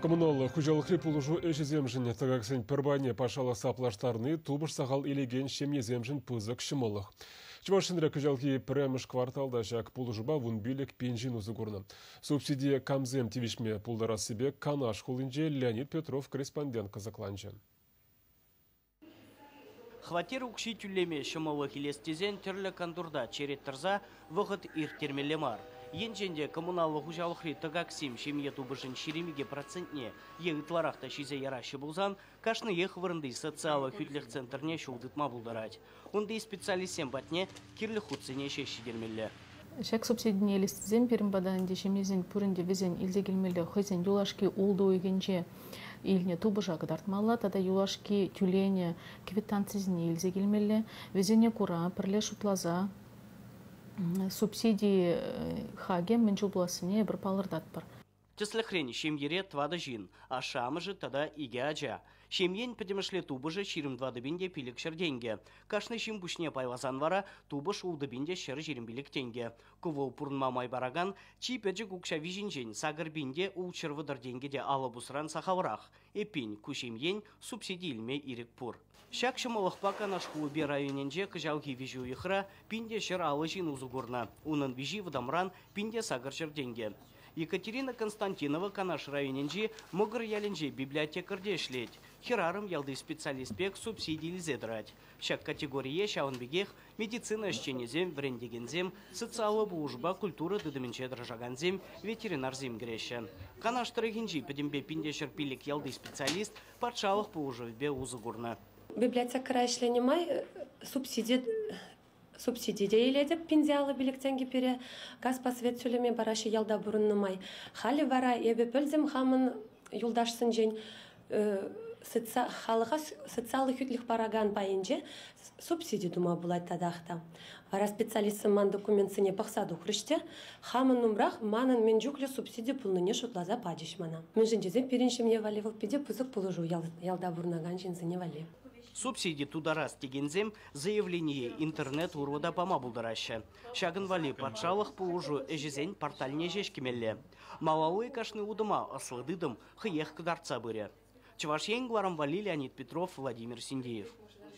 Коммуналлӑ хуҫалӑхри пулӑшу ӗҫӗсемшӗн тӑкаксен пӗр пайне патшалӑхса плаштарни тупӑш сахал илекен ҫемьесемшӗн пысӑк ҫӑмӑллӑх. Чӑваш Енре кӑҫалхи пӗрремӗш кварталта ҫак пулӑшупа вун пилӗк пин ҫын усӑ курнӑ. Субсидие камсем тивӗҫме пултарассипе Канаш хулинче Леонид Петров корреспондент кӑсӑкланчӗ. Хваттер укҫи тӳлеме ҫӑмӑллӑх илес тесен тӗрлӗ кантурта черет тӑрса вӑхӑт ирттермелле мар. Енчен те коммуналлӑ хуҫалӑхри тӑкаксем ҫемье тупӑшӗн ҫирӗмикӗ процентне е ытларах та ҫисе яраҫҫӗ пулсан, кашниех вырӑнти социаллӑ хӳтлӗх центрне ҫул тытма пултарать. Унти специалистсем патне кирлӗ хутсене ҫеҫ ҫитермелле. Ҫак субсидине илессисем пирӗн пата ӗнтӗ ҫемьесен пуринте вӗсен илсе килмелле хӑйсен юлашки ултӑ уйӑхӗнче илнӗ тупӑша кӑтартмалла тата юлашки тӳленӗ квитанцисене илсе килмелле. Вӗсене кура пӗрле шутласа субсиди хакӗ мӗн чухлассине эпир палӑртатпӑр. Тӗслӗхрен, ҫемьере тӑватӑ ҫын, ашшӗ-амӑшӗ тата икӗ ача. Ҫемьен пӗтӗмӗшле тупӑшӗ ҫирӗм тӑватӑ те пилӗкҫӗр тенкӗ. Кашни ҫын пуҫне пайласан вара тупӑш ултӑ те ҫӗр ҫирӗм пилӗк тенкӗ. Кӑвӑл пурӑнма май паракан чи пӗчӗк укҫа виҫинчен сакӑр пин те ултҫӑр вӑтӑр тенкӗ те алӑ пусран сахалрах. Эппин, ку ҫемьен субсиди илме ирӗк пур. Ҫак ҫӑмӑллӑхпа Канаш хулипе районӗнче кӑҫалхи виҫӗ уйӑхра пин те ҫӗр алӑ ҫын усӑ курнӑ. Унӑн виҫи вӑтамран пин те сакӑрҫӗр тенкӗ. Екатерина Константинова Канаш районӗнчи Мӑкӑр ялӗнче библиотекарьте ӗҫлет. Хӗрарӑм ялти специалист пек субсиди илсе тӑрать. Ҫак категорие ҫавӑн пекех медицина ӗҫченӗсем, вӗрентекенсем, социаллӑ пулӑшупа культура тытӑмӗнче тӑрӑшакансем, ветеринарсем кӗреҫҫӗ. Канаш тӑрӑхӗнчи пӗтӗмпе пин те ҫӗр пилӗк ялти специалист патшалӑх пулӑшӑвӗпе усӑ курнӑ. Библиотекӑра ӗҫленӗ май субсиди субсиди те илетӗп пинсе алӑ пилӗк тенкӗ пире газ посвет тӳлеме параҫҫӗ ялта пурӑннӑ май. Халӗ вара эпӗ пӗлтӗм хамӑн юлташсенчен халӑха социаллӑ хӳтлӗх паракан пайӗнче субсиди тума пулать татах та. Вара специалистсем ман документсене пӑхса тухрӗҫ те хамӑн умрах манӑн мӗн чухлӗ субсиди пулнине шутласа пачӗҫ мана. Мӗншӗн тесен пирӗн ҫемье валли вӑл питӗ пысӑк пулӑшу ялта пурӑнакан ҫынсене валли. Субсиди тутарас текенсем заявление интернет урлӑ та пама пултараҫҫӗ. Ҫакӑн валли патшалӑх пулӑшу ӗҫӗсен порталне ҫеҫ кӗмелле. Малалли кашни утӑма ӑслӑ тытӑм хӑех кӑтартса пырӗ. Чӑваш Ен, кӑларӑм валли Леонид Петров, Владимир Синдеев.